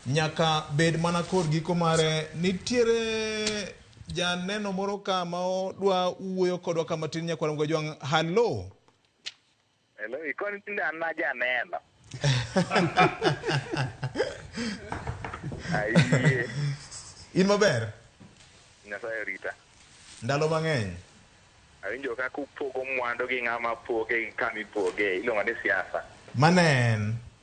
Nyaka bed mana kor giko mare. Nitiere janeno moro ka ma odwa wuoyo kodwa ka matin nyakwar Mgwa Jwang'. Halo. Hello, ikoni tinde an na janeno. Ayie, In maber? Nyasaye orita. Ndalo mang'eny. Awinjo ka kupogo mwandu gi ng'ama poge gi kama ipoge, iluongo ni siasa. Mano en.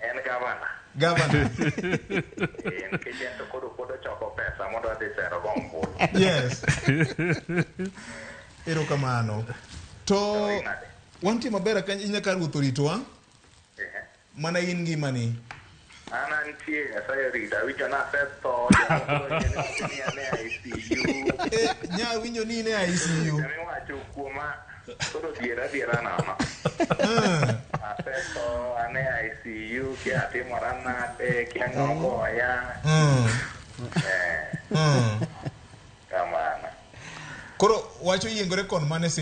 En gavana. Gavana. Eh, nikech en to koro pod ochoko pesa mondo adhi sero go ombulu. Yes. Erokamano. To wantie maber kany inya ka ruoth oritowa. Eh. Mana in ngimani. An antie Nyasaye orita awinjo na asetho. Nya winjo ni in e ICU. Jamiwacho kuoma Koro diera diera nono. Asetho, ane ICU, kia atimora nade, kia ng'ogoya. Mm, Eh, mm. kamano. Koro wacho yiengore kon mane sin